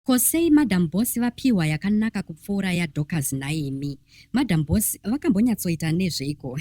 Ko sei madam boss vapihwa yakanaka kupfuura ya Dorcas nhaimi. Madam boss vakambonyatsoita nezveiko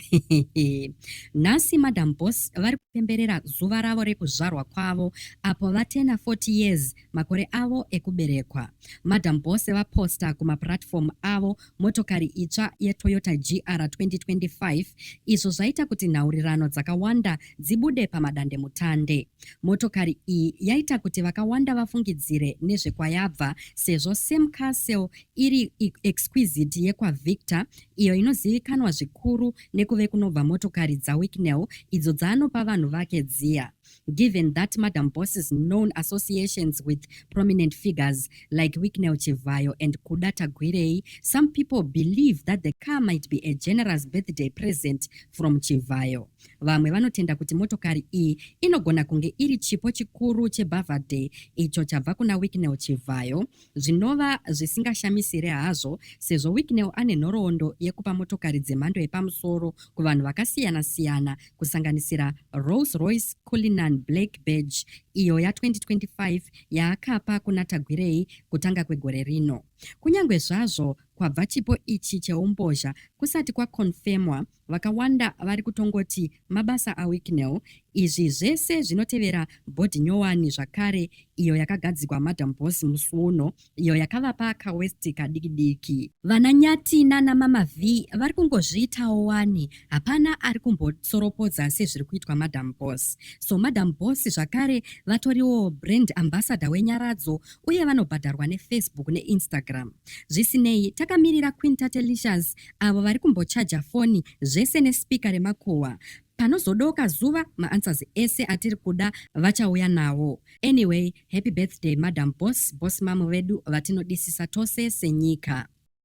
nhasi madam boss vari kupemberera zuva ravo rekuzvarwa kwavo apo vatena 40 years makore avo ekuberekwa. Madam boss vaposta kumaplatform avo motokari itsva yeToyota GR 2025 izvo zvaita kuti nhaurirano dzakawanda dzibude pamadandemutande. Motokari iyi yaita kuti vakawanda vafungidzire nezvekwayabva sezvo Sam Castle iri exquisite yekwaVictor iyo inozivikanwa zvikuru nekuve kunobva motokari dzaWicknell idzo dzaanopa vanhu vake dziya. Given that Madam Boss's known associations with prominent figures like Wicknell Chivhayo and Kuda Tagwirei, some people believe that the car might be a generous birthday present from Chivhayo. Vamwe vanotenda kuti motokari iyi inogona kunge iri chipo chikuru chebhavhaday icho chabva kuna Wicknell Chivhayo zvinova zvisingashamisire hazvo sezvo Wicknell ane nhoroondo yekupa motokari dzemhando yepamusoro kuvanhu vakasiyana-siyana kusanganisira Rolls-Royce Cullinan Black Badge iyo ya 2025 yaakapa kuna Tagwirei kutanga kwegore rino. Kunyange zvazvo kwabva chipo ichi cheumbozha kusati kwakonfemwa, Vakawanda vari kutongoti mabasa aWicknell. Izvi zvese zvinotevera bhodhi nyowani zvakare iyo yakagadzigwa Madam Boss musi uno iyo yakavapa kaWest kadiki diki. Vana Nyati nana Mama Vee vari kungozviitawo wani, hapana ari kumbotsoropodza sezviri kuitwa Madam Boss. So Madam Boss zvakare vatoriwo brand ambassador weNyaradzo uye vanobhadharwa neFacebook neInstagram. Zvisinei, takamirira Queen Tatelicious avo vari kumbochaja foni zvese nespeaker remakuhwa panozodoka zuva maanswers ese atiri kuda vachauya nawo anyway happy birthday madam boss boss mamu vedu vatinodisisa tose senyika